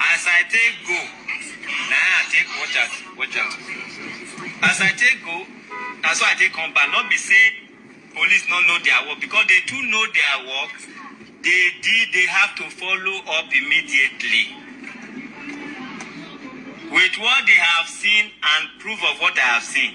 As I take go, na I take watch out, watch out. As I take go, na so I take come back. Not be say police no know their work because they too know their work. They did, they have to follow up immediately with what they have seen and proof of what I have seen.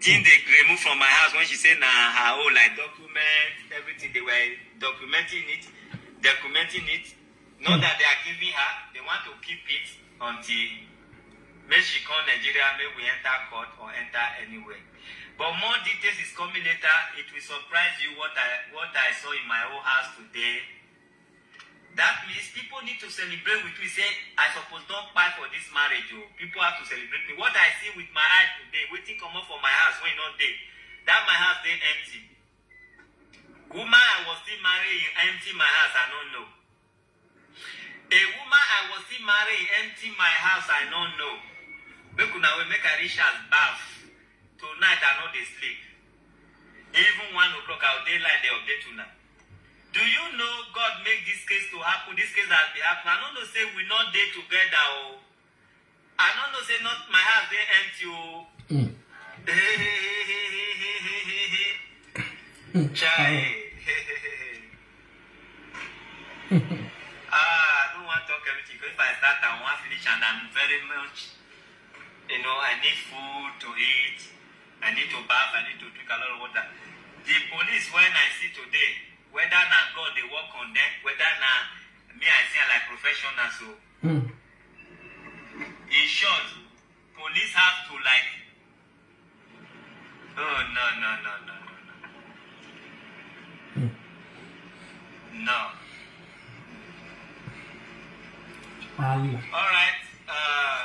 Jean dey remove from my house when she say na her own like document everything they were documenting it documenting it not that they are giving her they want to keep it until make she come Nigeria make we enter court or enter anywhere but more details is coming later it will surprise you what I what I saw in my own house today That means people need to celebrate with me say I suppose don kpai for this marriage o. People have to celebrate me. What I see with my eye today, wetin comot for my house wey e no dey, that my house dey empty. Woman I was still marrying e empty my house, I no know. A woman I was still marrying e empty my house, I no know. Make una wait, make I reach house baff. Tonight I no dey sleep. Even one o'clock I go dey line dey update una. Do you know God make this case to happen, this case has been happening. I no know say we not dey together o. Oh. I no know say not my house dey empty o. Oh. Mm. Chai. ah, I don't want to talk everything because if I start, I want to finish and I'm very much, you know, I need food to eat. I need to baff, I need to drink a lot of water. The police when I see today, whether na God dey work on them, whether na me I see am like professionals o. Hmm. In short, police have to like. Oh no no no no no no. No. Wahala. All right. Uh,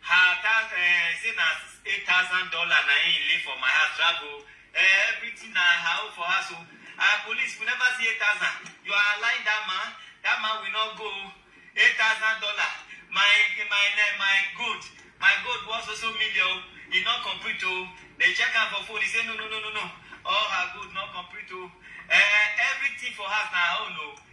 Her account eh, say na eight thousand dollar na im lay for my house travel eh, everything na her own for house o ah police we never see eight thousand you are lying that man that man will not go eight thousand dollar my my eh, my gold my gold was also million o e no complete o they check am for phone he say no no no no no all her gold no complete o eh, everything for house na her own o.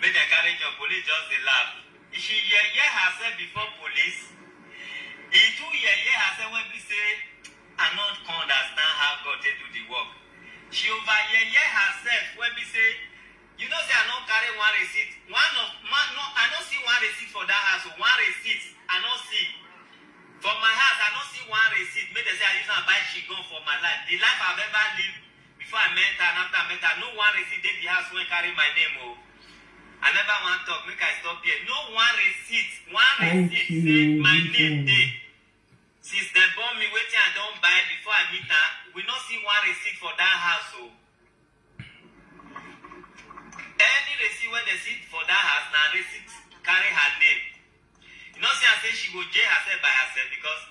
Make dem carry job, police just dey laugh. She yeye herself before police. E too yeye herself when be say I no come understand how God take do the work. She over yeye herself when be say you know say I no carry one receipt. One of man no I no see one receipt for that house. One receipt I no see. For my house I no see one receipt. Make dem say I use am buy chigon for my life. The life I've ever lived Before I mental and after I mental, no one receipt dey the house wey carry my name o. I never wan talk, make I stop here. No one receipt, one Thank receipt you, say my name Vivian. dey. Since dem born me, wetin I don buy before I meet am, we no see one receipt for that house o. Any receipt wey dem see for that house na receipt carry her name. You know say I say she go jail herself by herself because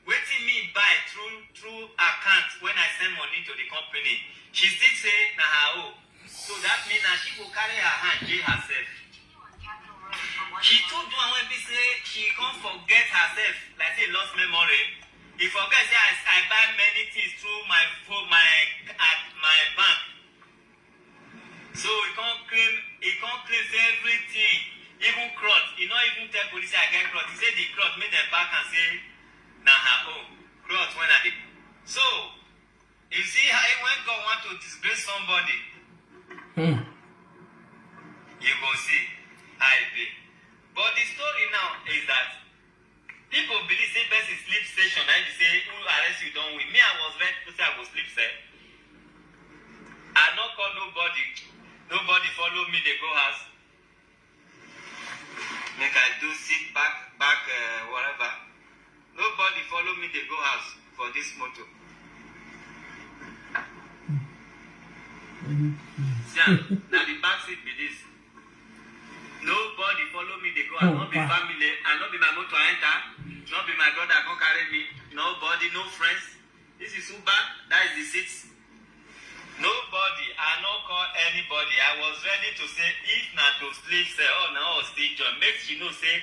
wetin me buy through through account when I send money to the company, she still say na her own. So that mean na she go carry her hand jail herself. She too do am when be say she come forget herself like say lost memory. He forget say I, I buy many things through my phone, my at my bank. So he can't claim he can't claim say everything, even cloth. He not even tell police say I get cloth. He say the cloth make them back and say na her own cloth when I dey. So you see how when God want to disgrace somebody, Hmm. you go see how e be. But the story now is that Pipo believe say person sleep session na im be say who arrest you don win. Me I was ready to say I go sleep sef. I no call nobody, nobody follow me dey go house. Make I do sit back back um whatever. Nobody follow me dey go house for dis motor. See am, na the back seat be dis. Nobody follow me, they go. I not be Opa. family. I not be my motor enter. Not be my brother come carry me. Nobody, no friends. This is Uber. That is the seat. Nobody. I no call anybody. I was ready to say if na to sleep, say oh na oh still join. Make she know say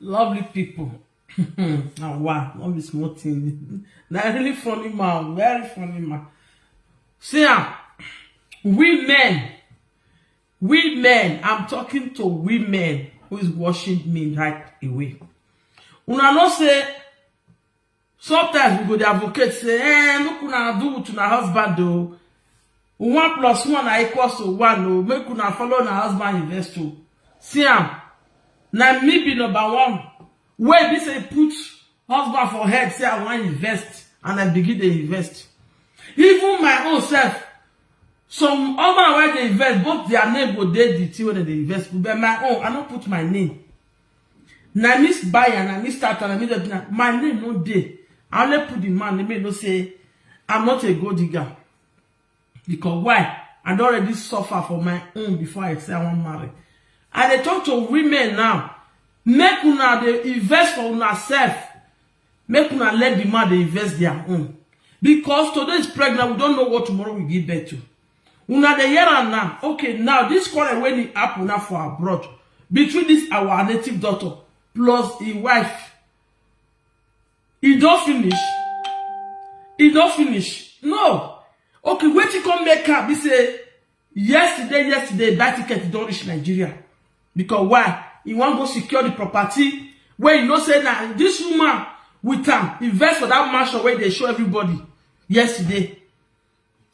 lovely people ah wow no be small thing na really funny man very funny man see am we men we men i'm talking to women who is watching me right away una know say Sometimes we go dey advocate say, eh, make una do with una husband o. One plus one na equals to one o. Make una follow una husband invest o. See am, na me be number one wey be say put husband for head say I wan invest and I begin dey invest. Even my own self, some husband wey dey invest, both their name go dey the thing wey dem dey invest put, but my own, I no put my name. Na me buy am, na me start am, na me do everything. My name no dey. I only put the man name make you know say I'm not a gold digger. Because why? I don already suffer for my own before I say I wan marry. I dey talk to women now, make una dey invest for una self. Make una let the man dey invest their own. Because today is pregnant, we don't know what tomorrow will give birth to. Una dey hear am now. Okay, now this quarrel when it happen now for abroad between this our native daughter plus his wife. It don't finish. It don't finish. No. Okay, when she come make her, be say yesterday, yesterday that ticket don't reach Nigeria because why? He wan go secure the property where you know say now this woman with am invest for that mansion where they show everybody yesterday.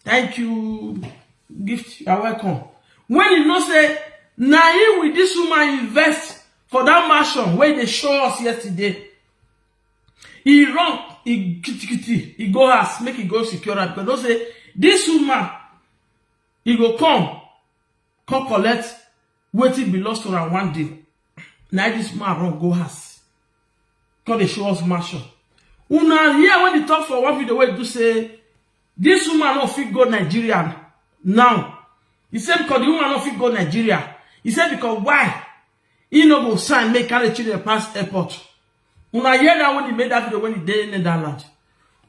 Thank you, Gift. You are welcome. When you know say na him with this woman invest for that mansion wey dey show us yesterday, he run, he kitikiti, he go house make he go secure am because know say this woman he go come come collect Wetin be lost on am one day? Na this man run go house. Come dey show us mansion. Una hear when he talk for one video wey do say this woman no fit go Nigeria now. He said because the woman no fit go Nigeria. He said because why? He no go sign make carry children pass airport. Una hear that when he made that video when he dey Netherlands.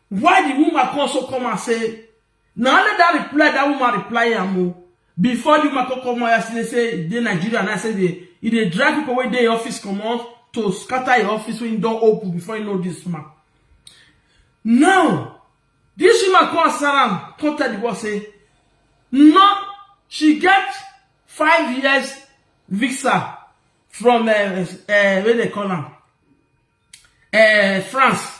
Why the woman come also come and say Na only that reply that woman reply am o. Before the woman come come out yesterday say e dey Nigeria now say dey e dey drag people wey dey office comot to scatter im office wey im don open before im know this woman. Now this woman come answer am come tell the world say no she get five years visa from um, um, wey dey call am um, France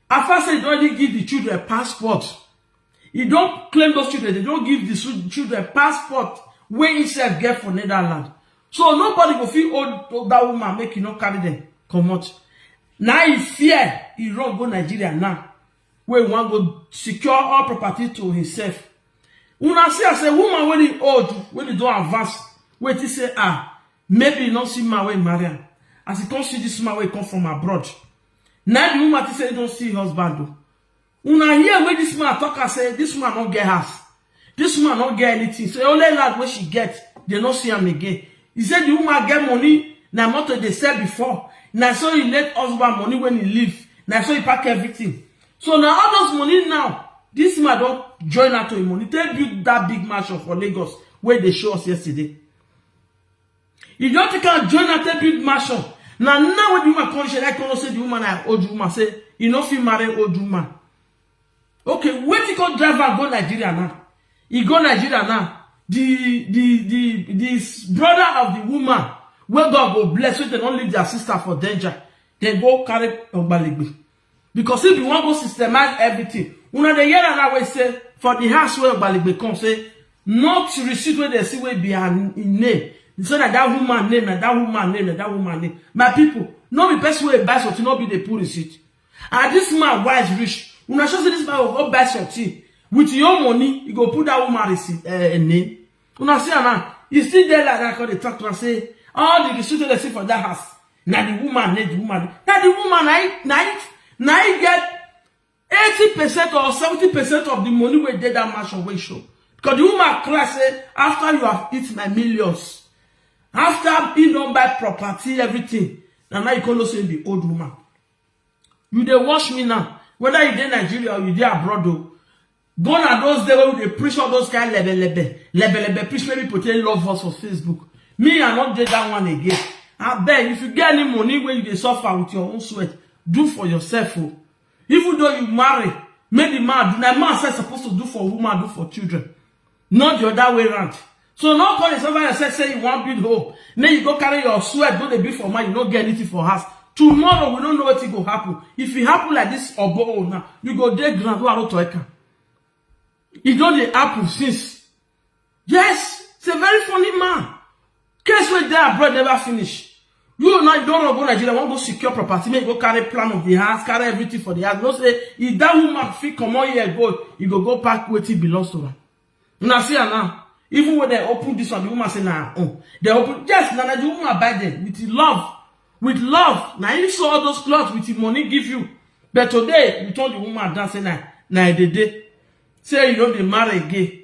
After say he don already give the children passport, he don claim those children, they don give the su- children passport wey himself get for Netherlands. So nobody go fit hold that woman make he no carry them comot. Na he fear he run go Nigeria now wey he wan go secure all property to himself. Una see as a woman wey dey old, wey dey don advance, wey think say ah, maybe he no see man wey marry am. As he come see this man wey come from abroad, Na the woman think say he don see husband o. Una hear wey this man talk am say this woman no get house. This woman no get anything. Say only land wey she get, they no see am again. He say the woman get money, na motor he dey sell before. Na so he late husband money when he leave. Na so he pack everything. So na all those money now, this man don join am to him money take build that big mansion for Lagos wey dey show us yesterday. You don't take her join her take build mansion. Now now when the woman come, she like come say the woman na old woman say you no fit marry old woman. Okay, wait till come drive her go Nigeria now. He go Nigeria now. The the the the s- brother of the woman wey God go bless so they don't leave their sister for danger. They go carry Ogbalegbe. because if you wan go systemize everything una dey hear am now wey say for the house wey ogbaligbe come say not receipt wey dey see wey be her n- im name so na that woman name na that woman name na that woman name my people no be person wey buy something no be dey put receipt and this man wise reach una sure say this man go go buy something with your money you go put that woman receipt uh, name Una see am now. You still there like that, come dey talk to am say, all the receipt wey dey see for that house, na the woman need the woman. Na the woman na im na im na im get eighty percent or seventy percent of the money wey dey that mansion wey show. Because the woman cry say, after you have eat my millions, after he don buy property, everything, na now you come know say you be old woman. You dey watch me now, whether you dey Nigeria or you dey abroad o. Gone are those days when we dey preach all those kind lebelebe, lebelebe preach make people take love us for Facebook. Me, I not did that one again. I beg, if you get any money where you dey suffer with your own sweat, do for yourself. Oh. Even though you marry, make the man do. Like man said supposed to do for woman, do for children. not the other way round so no call yourself by yourself say you wan build hope make you go carry your sweat go dey build for mind you no get anything for house tomorrow we no know wetin go happen if e happen like this obo own now you go dey ground wey i no to eka e don dey happen since yes it's a very funny man Case wey dey abroad never finish. You now you don run go Nigeria, wan go secure property, make you go carry plan of the house, carry everything for the house. No say if that woman fit comot here go, you go go pack wetin belongs to am. Una see am now. Even when they open this one, the woman say na her own. They open yes, na na the woman buy them with love, with love. Na him sew all those clothes with him money give you. But today you turn the woman down say na na edede. Say you no dey marry again.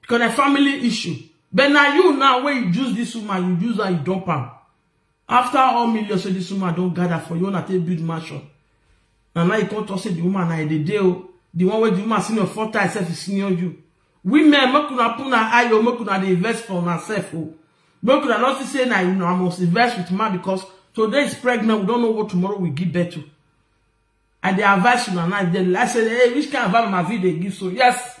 because na family issue but na you now wey you use this woman you use her you dump am after all millions wey this woman don gather for you una take build mansion na now you come talk say the woman na e dey dey o the one wey the woman senior four times sef is senior you women make una put una eye o make una dey invest for una sef o make una no see say na una must invest with man because today is pregnant we don't know what tomorrow will give birth to i dey advise una now if dem like say hey which kind of vibe una fit dey give so yes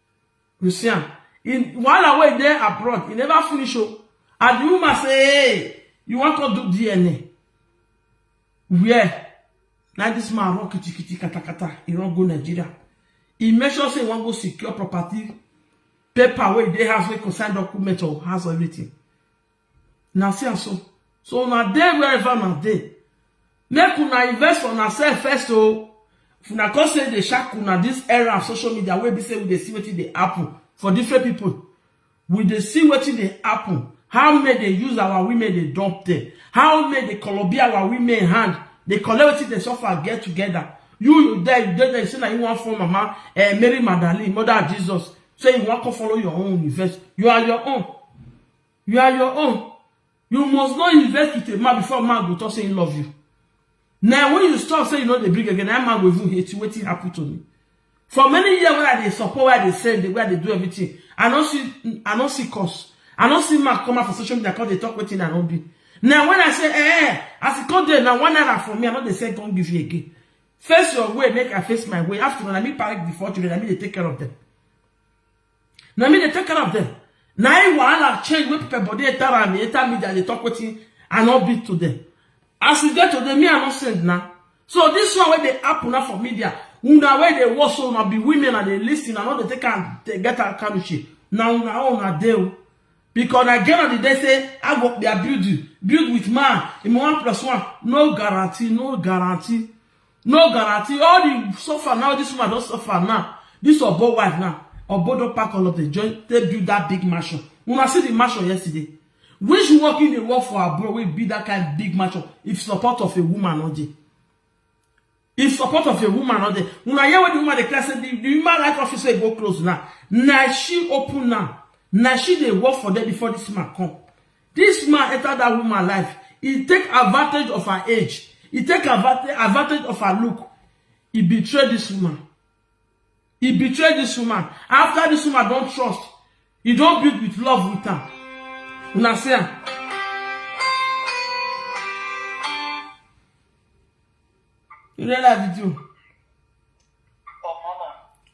You see am. In wahala wey dey abroad, e never finish o. And the woman say, hey, you wan come do DNA? Where? Na this man run kitikiti katakata, e run go Nigeria. E make sure say e wan go secure property, paper wey dey house wey concern document or house or everything. na see am so so una dey wherever una dey make una invest for una sef first o if una come say dey shack una this era of social media wey be say we dey see wetin dey happen for different people we dey see wetin dey happen how men dey use our women dey dump them how men dey kolobi our women hand dey collect wetin dey suffer get together you you there you dey there you say na you wan form mama eh, Mary Magdalene mother of Jesus say you wan come follow your own invest you are your own You are your own. You must not invest with a man before man go talk say he love you. Now when you stop say you know they bring again, that man will even hate you. Wetin happen to me? For many years where they support, where they send, where they do everything, I don't see, I don't see cause. I don't see man come out for social media because they talk wetin I don't be. Now when I say, eh, eh, as it come there, now one naira for me, I know they say come give you again. Face your way, make I face my way. After all, I me parent before children, I me they take care of them. na me dey take care of them na im wahala change wey people body enter am enter media dey talk wetin i no be to them as we get today me i no send na so this one wey dey happen na for media una wey dey watch so una be women and dey lis ten i no dey take am dey get am kanushi na una own na dey o because na get on the day say i go be a build you build with man im one plus one no guarantee no guarantee no guarantee all the suffer now this woman don suffer now this obo wife now obo don pack all of them join take build that big mansion una see the mansion yesterday which work in dey work for abroad wey build that kind big mansion if support of a woman no dey if support of a woman no dey una hear when the woman dey cry say the the human rights office wey go close now na she open now na she dey work for them before this man come This man enter that woman life, he take advantage of her age, he take advantage, advantage of her look, he betray this woman. He betray this woman. After this woman don trust, he don build with love with am. Una see am. You dey like video?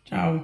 Ciao.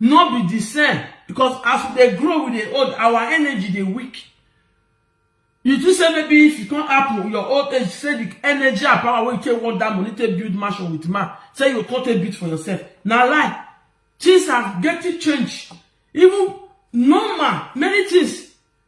no be the same because as we dey grow we dey old our energy dey weak you think say maybe if you come happen your old age say the energy and power wey you take work that money take build mansion with man say you come take build for yourself na lie things are getting change even normal many things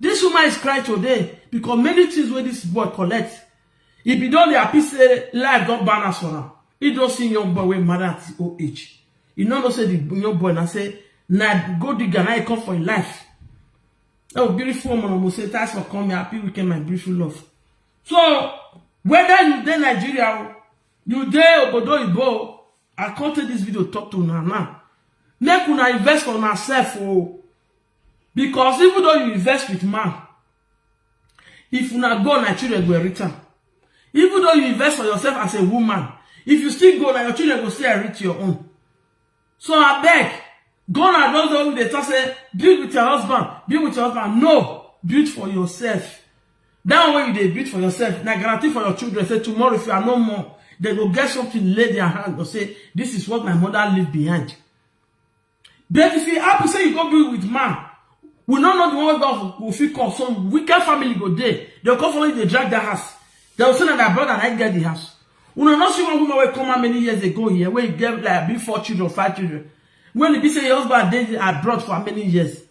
Dis woman is crying today because many things wey dis boy collect. E bin don dey happy say life don balance for am. E don see young boy wey marry at his old age. E no know say the young boy na say na gold digger na e come for im life. Oh, beautiful woman, Omo say thanks for coming. Happy weekend, my beautiful love. So, whether you dey Nigeria o, you dey obodo oyibo o, I come take this video talk to una now. Make una invest for una self o. Because even though you invest with man, if una go, na children go inherit am. Even though you invest for yourself as a woman, if you still go, na your children go still inherit your own. So abeg, go na don don dey talk say build with your husband, build with your husband. No, build for yourself. That one you dey build for yourself, na guarantee for your children say tomorrow if you are no more, they go get something lay their hand go say this is what my mother leave behind. But if it happen say you go be with man, we no know the one wey God go fit call. Some wicked family go there. They'll come follow you, they drag the house. They'll say that their brother I get the house. We no not see one woman wey come out many years ago here, where he get like be four children, five children. When he be say your husband dey abroad for many years.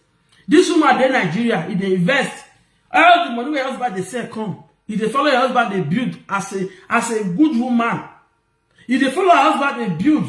This woman dey Nigeria, he dey invest. All the money wey husband dey sell come. He dey follow your husband dey build as a as a good woman. He dey follow her husband dey build.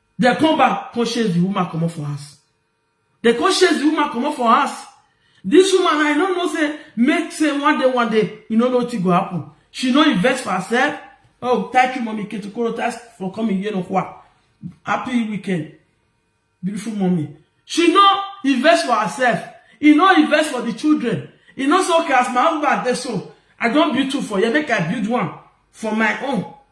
Dem come back come chase the woman comot for house. Dem come chase the woman comot for house. This woman I no know say make say one day one day you no know wetin go happen. She no invest for herself. Oh thank you mommy Ketukoro thanks for coming here no kwa. Happy weekend beautiful mommy. She no invest for herself. E no invest for the children. E no say okay as my husband dey so I don build two for here make I build one for my own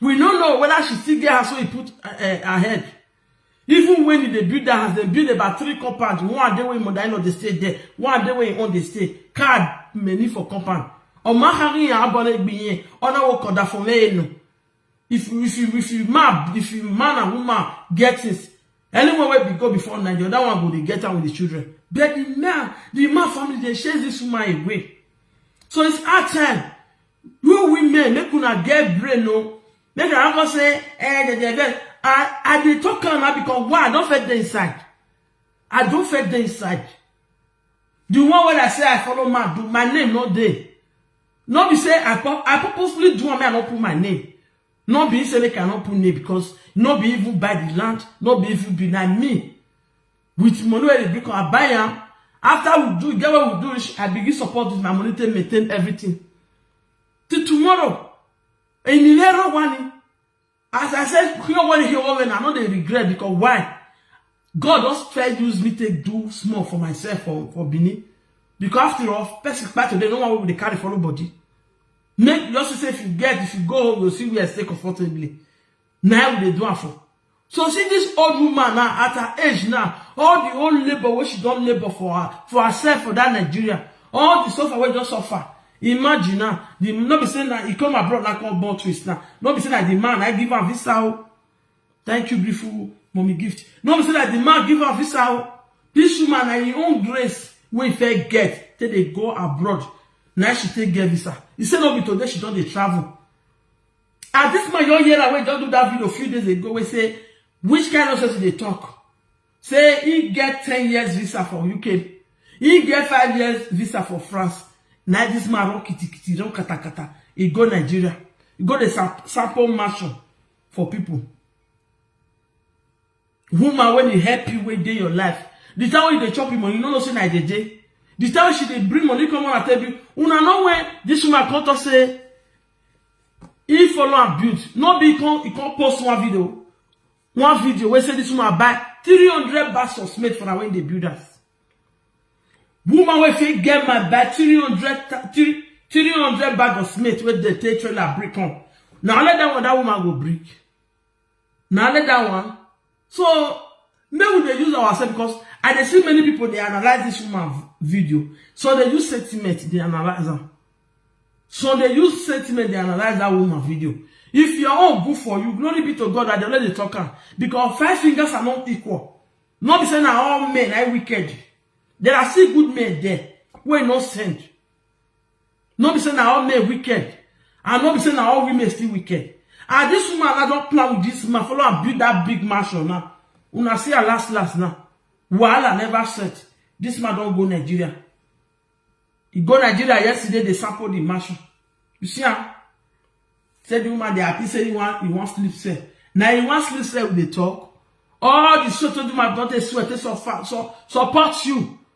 we no know whether she still get house wey e put uh, her head even when e dey build that house dem build about three compound one dey wey im mother-in-law dey stay there one dey wey im own dey stay card many for compound ọmọ ahari yẹn abọlẹ gbìyẹn ọ̀nà wo kọ̀dà fún mẹ́ẹ̀nù if you if you if you man if you man and woman get things anyone wey be go before night the other one go dey get am with the children but the man the man family dey chase this woman away so it's hard time You women, make una get brain o. Make una come say, eh, de, de, de. I, I dey talk am now because why? I don fit dey inside. I don fit dey inside. The one wey I say I follow man do, my name no dey. No be say I, pur- I purposely do am, make I no put my name. No be say make I no put name because no be even buy the land, no be even be na me. with money wey dey bring am i buy am after we do get what we do reach i begin support with my money take maintain everything till tomorrow enilero wani as i say here one here one when i no dey regret because why god don first use me take do small for myself for for benin because after all person kpai today no one wey we dey carry follow body make you just see say if you get if you go home you go see where i stay comfortably na im we dey do am for so see this old woman now at her age now all the old labour wey she don labour for her for herself for that nigeria all the suffer wey don suffer imagine now the no be say na e come abroad na come born twins now no be say na the man na give am visa o thank you beautiful mommy gift no be say na the man give am visa o this woman na im own grace wey e fit get take dey go abroad na she take get visa e say no be today she don dey travel As this man young year away just do that video a few days ago We say which kind of sense they talk? Say he get 10 years visa for UK. He get 5 years visa for France. Now this man run kitty kitty, run kata kata. He go Nigeria. He go the sample mansion for people. Woman when he help you wey dey your life. The time when you dey chop him money, you no know say na dey dey. The time she dey bring money come and tell you, una know when this woman come talk say he follow am build. No be he come he come post one video, one video wey say this woman buy 300 bags of cement for her when they build house. Woman wey fit get my buy 300 ta- three- 300 bag of cement wey dey take trailer bring come. Na only that one that woman go bring. na only that one so make we dey use ourselves because i dey see many people dey analyze this woman video so they use sentiment dey analyze am so they use sentiment dey analyze that woman video if your own good for you glory be to god that they let dey talk am because five fingers are not equal no be say na all men na wicked there are still good men there wey no send no be say na all men wicked and no be say na all women still wicked and this woman na don plan with this man follow am build that big mansion now una see her last last now wahala never set this man don go nigeria he go nigeria yesterday dey sample the mansion you see am say the woman dey happy say he wan he wan sleep sef na he wan sleep sef we dey talk all the show to the man don dey sweat dey suffer so support you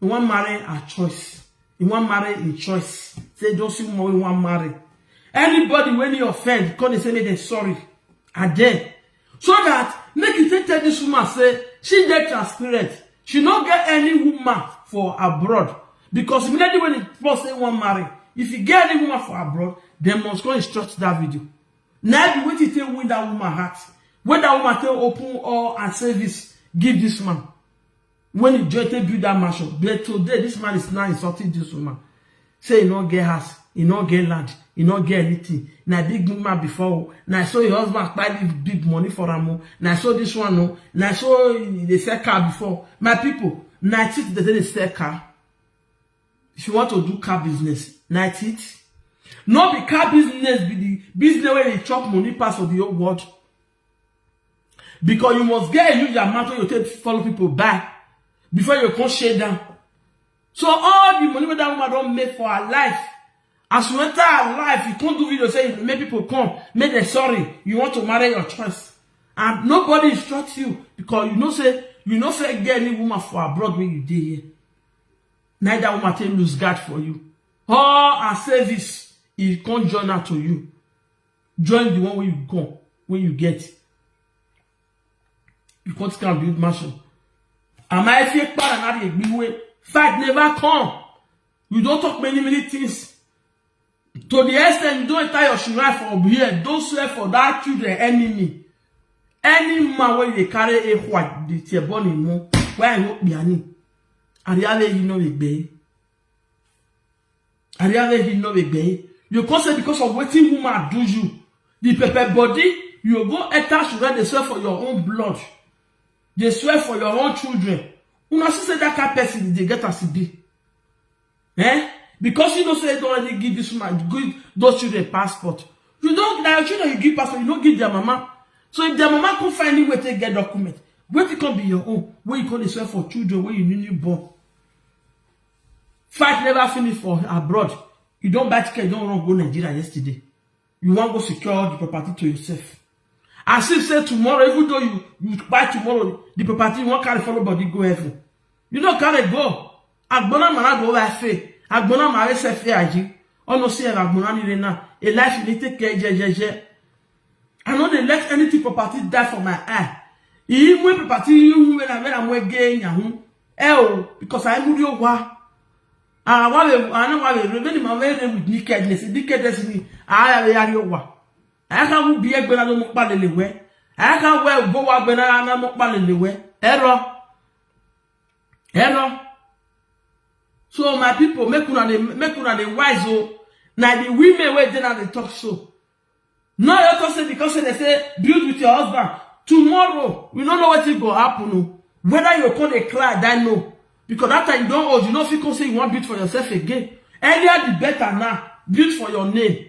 He wan marry her choice. He wan marry him choice. Say don't see woman wey he wan marry. Anybody wey he offend, come dey say make dem sorry. And then, so that make you take tell this woman say she dey transparent. She no get any woman for abroad because immediately when he talk say he wan marry, if he get any woman for abroad, dem must go instruct that video. Na be wetin take win that woman heart. When that woman take open all her service give this man. When you just take build that mansion, but today this man is now insulting this woman. Say he not get house, he not get land, he not get anything. Na big woman before, oh. na so your husband buy big, big money for am, oh. na so this one, oh. na so they sell car before. My people, na it they dey sell car. If you want to do car business, na it. No be car business be the business where they chop money pass for the whole world. Because you must get a huge amount wey you take follow people buy before you come share down. So all the money wey that woman don make for her life, as you enter her life, you come do video say make people come, make them sorry, you want to marry your choice. And nobody instructs you because you know say you no fit get any woman for abroad when you dey here. Neither woman take lose guard for you. All her service, he come join her to you. join the one wey you come wey you get you come still am build mansion ama efie kpara na dey gbiwe fight never come you don talk many many things to the extent you don enter your shrine for here don swear for that children enemy any man wey dey carry a white dey tear born him mom wey i no kpiani ariale you no dey gbeye. Ariave he no be gay. You come say because of wetin woman do you, the pepper body, you go enter sugar dey swear for your own blood, dey swear for your own children. Una see say that kind person dey get as e be. Eh? Because you know say you don already give this woman, give those children passport. You don na your children you give passport, you no give their mama. So if their mama come find any way take get document, wetin come be your own wey you come dey swear for children wey you newly born? Fight never finish for abroad. You don't buy ticket, you don't run go Nigeria yesterday. You want go secure all the property to yourself. As if say tomorrow, even though you, you buy tomorrow, the property you won't carry follow body go heaven. You don't carry go. Agbona mara go over faith. Agbona mara se fe aji. Ono si e agbona ni re na. A life you need take care jejeje. I no dey let anything property die for my eye. Even when property you when I when I'm again yahu. Eo because I move your wa. Ah, wa we I know wa we when my way with nakedness, nakedness ni. Ah, ya ya wa. I can move be egbe na no mo pa lele we. I can well go wa gbe na na mo pa lele we. Error. Error. So my people make una dey make una dey wise o. Na the women wey dey na dey talk so. Now you talk say because say they say build with your husband. Tomorrow, we don't know what it go happen. o. Whether you come dey cry, I know. Because that time you don't old, you know if you come say you want build for yourself again. Earlier the better now. Build for your name.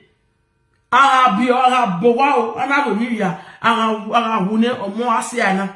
Ara bi ara bowa o, ana we mi ya. Ara ara wune omo ase ana.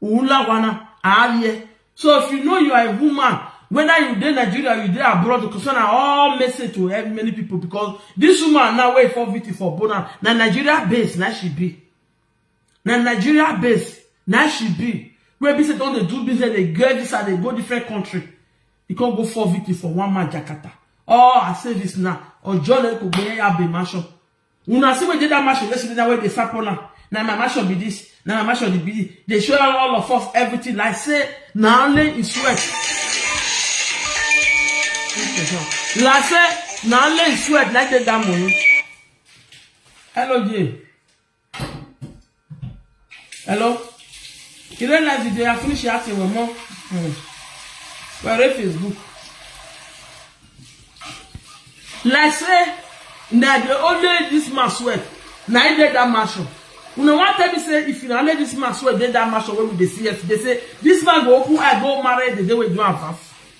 Ula wana alie. So if you know you are a woman, whether you dey Nigeria, you dey abroad, concern na all message to help many people because this woman now wey for VT for Bona, na Nigeria base na she be. Na Nigeria base na she be. Where be say don dey do business, dey get this and dey go different country. You can't go for VT for one man Jakarta. All her service now, or John Eko Gbeya Abe Mansion. Una see wey dey that mansion yesterday na wey dey sap on am. Na my mansion be this, na my mansion dey be this. They show all of us everything like say na only his sweat. Like say na only his sweat like take that money. Hello, yeah. Hello? You don't like the day I finish your acting with more? Mm. Well, read Facebook. Like say, na the only this man sweat. Na he did that mansion. Una wan tell me say if na only this man sweat did that mansion wey we dey see yesterday say this man go open eye go marry the day wey do am pass.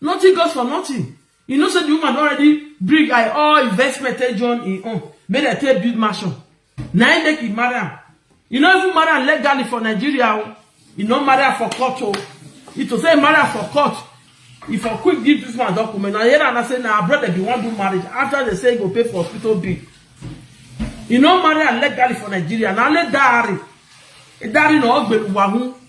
Nothing goes for nothing. You know say the woman don already bring her all investment take join im own make dem take build mansion. Na im make e marry am. E no even marry am legally for Nigeria o. E no marry am for court o. If to say e marry am for court, e for quick give this man document. Na hear am na say na her brother bin wan do marriage after they say e go pay for hospital bill. E no marry am legally for Nigeria. Na only dowry. Dowry na ogbeluwa hun.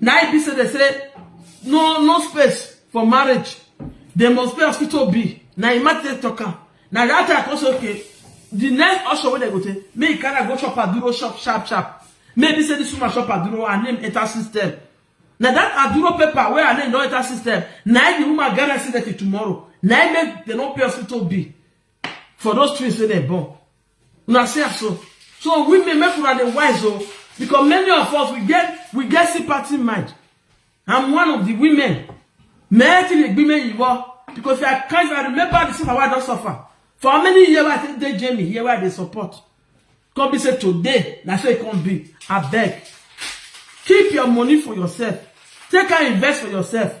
na im be say dem say no no space for marriage dem must pay hospital bill na im matter take talk am na that time i come say okay the next option wey dem go take make e carry am go chop aduro shop sharp sharp make e be say this woman chop aduro her name enter system na that aduro paper wey her name don enter system na im the woman get accident till tomorrow na im make dem no pay hospital bill for those twins wey dem born Una see am so. So women make una dey wise o because many of us we get we get sympathy mind. I'm one of the women. Men ti le gbe me yiwo because I can't I remember the suffer wey I don suffer. For how many years I take dey Jamie here where I dey support. Come be say today na so e come be. Abeg keep your money for yourself. Take am invest for yourself.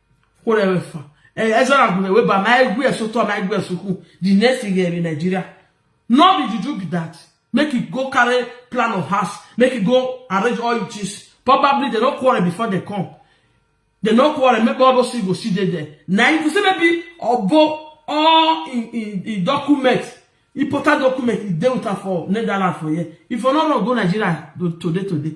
Who ever fun? Eh, I don't agree with, but my agree so to my agree so cool. The next thing here in Nigeria, no be juju be that. Make it go carry plan of house. Make it go arrange all your things. Probably they don't quarrel before they come. They don't quarrel. Maybe all those things go see they there. Now you see maybe obo all in in in document important document e dey with am for netherlands for here if you no run go nigeria today today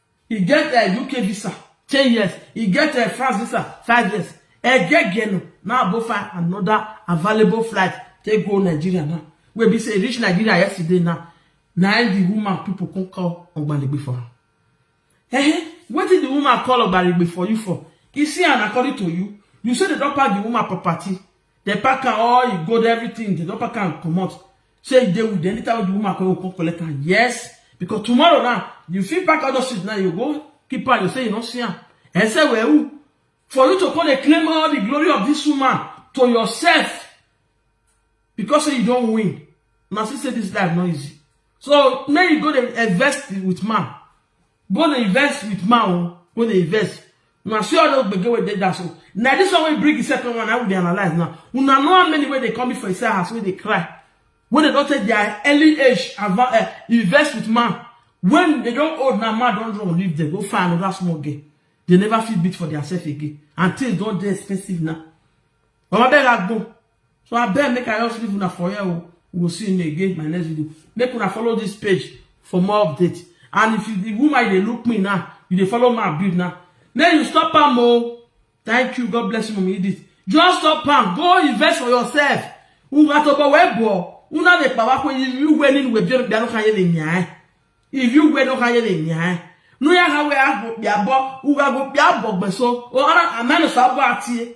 E get a UK visa, ten years. E get a France visa, five years. Egegeno now go find another available flight take go Nigeria now. Wey be say e reach Nigeria yesterday now. Na im the woman people come call Ogbalegbe for am. Eh, wetin the woman call Ogbalegbe for you for? You see am according to you, you say they don pack the woman property. They pack am all, e gold, everything. They don pack am comot. Say you dey with them, later when the woman come, you go come collect am. Yes, because tomorrow now, you fit pack all those shit now, you go keep am, you say you no see am. And say, well, who? For you to come and claim all the glory of this woman to yourself because say you don win. Una see say this life no easy. So make you go dey invest with man. go dey invest with man o go dey invest una see all those gbege wey dey that so na this one wey bring the second one na we dey analyse now una know how many wey dey come for inside house wey dey cry wey dey don take their early age adva- eh, invest with man when they don old now man don run leave them go find another small girl they never fit beat for their self again and things don dey expensive now baba beg agbo so abeg make i just leave una for here o we go see una again in my next video make una follow this page for more updates and if you the woman you dey look me now you dey follow my build now make you stop am o thank you god bless you mama edith just stop am go invest for yourself una to go wey bo una dey power ko if you wey ni we bi bi no kan ye ni yan if you wey no kan ye ni yan no ya ha we a go bi abo u ga go bi abo gbeso o ara amenu sa bo atie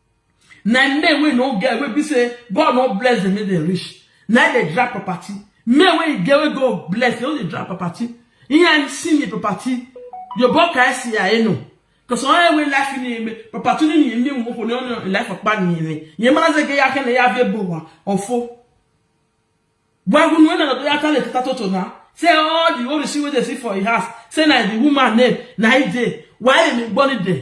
na men wey no get wey be say god no bless dem make dem rich na dey drag property men wey get wey god bless dem no dey drag property ihe ni si ni property yobo ka esi ya enu because onye wey life ni eme property ni ni eme nwoke ni onye life ọkpa ni eme nye mara ze ge ya kene ya vie bowa ọfọ gwagu nu ena do ya tale tata toto na say all the orisi wey dey see for his house say na the woman name na he dey why emi gbọ ni dey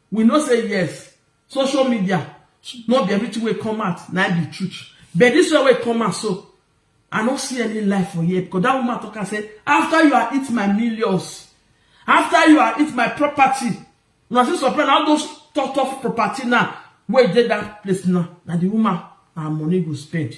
We know say yes, social media no be everything wey come out na im be truth. But this one wey come out so, I no see any lie for here because that woman talk am say after you are eat my millions, after you are eat my property, una still supply na all those tough tough property now wey dey that place now, na the woman her money go spend.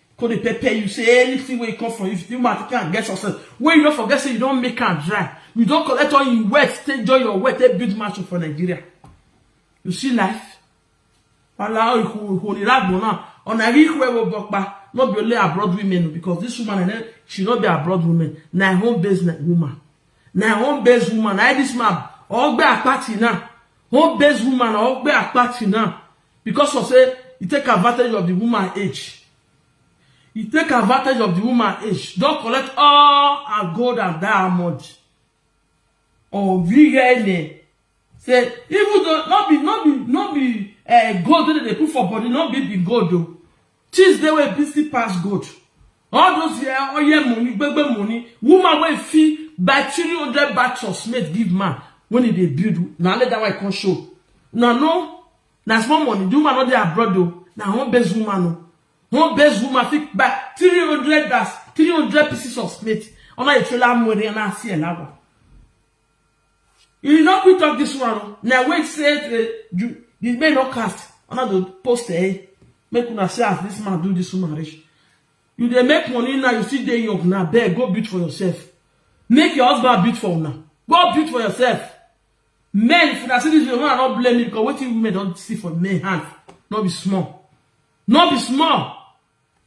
Go dey pepper you say anything wey come from you, if you man take am get success, wey you no forget say you don make am dry, you don collect all your wealth, take join your wealth, take build mansion for Nigeria. You see life? Wala ihu ihu ni ragbo now. Ona ihu ewo bokpa. No be only abroad women o, because this woman and she no be abroad women. Na her own based woman. Na her own based woman. Na this man ogbe apati now. Home based woman ogbe apati now. because of say e take advantage of the woman age e take advantage of the woman age don collect all her gold and diamond ovirene say even though no be no be no be uh, gold wey dem dey put for body no be be gold o Things dey wey busy pass gold. All those eh, oil money, gbegbe money, woman wey fit buy three hundred bags of cement give man when e dey build, na only that one e come show. Una no, na small money, the woman no dey abroad o, na home based woman o. Home based woman fit buy three hundred bags, three hundred pieces of cement under a trailer mure na see elawa. You no quick talk this one o. Na wait say the you the men no cast. Una go post eh. Make una see as this man do this woman reach. You dey make money now, you still dey young now. Beg, go build for yourself. Make your husband build for una. Go build for yourself. Men, if una see this video, una no blame me because wetin women don see for men hand no be small. No be small.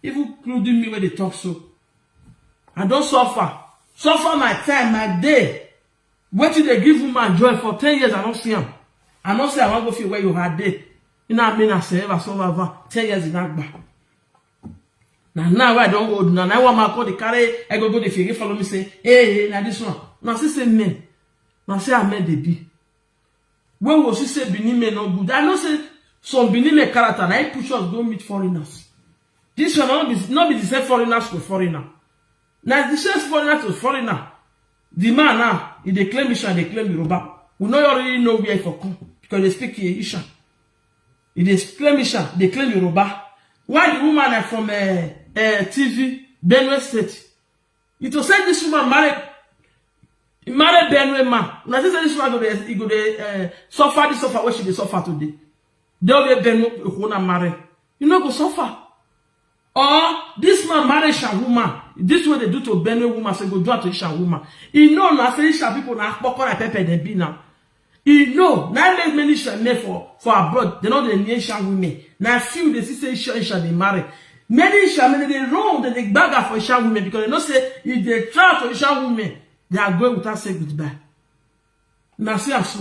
Even including me wey dey talk so. I don suffer. Suffer my time, my day. Wetin dey give woman joy for ten years I no see am. I no say I wan go feel where you had dey. Ina me na say ever so over ten years in agba. Na now wey I don old na na one man come dey carry egogo dey fere follow me say hey hey na this one. Una see say men na say how men dey be. When Wosu say Benin men no good, I know say some Benin men character na it push us go meet foreigners. This one no be no be the same foreigners to foreigner. Na the same foreigner to foreigner. The man now, he dey claim Ishan, dey claim Yoruba. We no already know where he for come because they speak Ishan. He dey claim Ishan, dey claim Yoruba. Why the woman na from uh, uh, TV, Benue State? You to say this woman married he married Benue man. Una say say this woman go dey he go dey uh, suffer this suffer wey she dey suffer today. Dey wey Benue Ehona marry. You no go suffer. Or this man marry Isha woman. This way they do to Benue woman, so he go do am to Isha woman. He know na say Isha people na kpokora pepper dem be now. E no, na im make many sha men for for abroad dem no dey near sha women. Na few you dey see say sha sha dey marry. Many sha men dem dey run, dem dey gbaga for sha women because dem know say if dem try for sha women, they are going without say goodbye. Una see am so.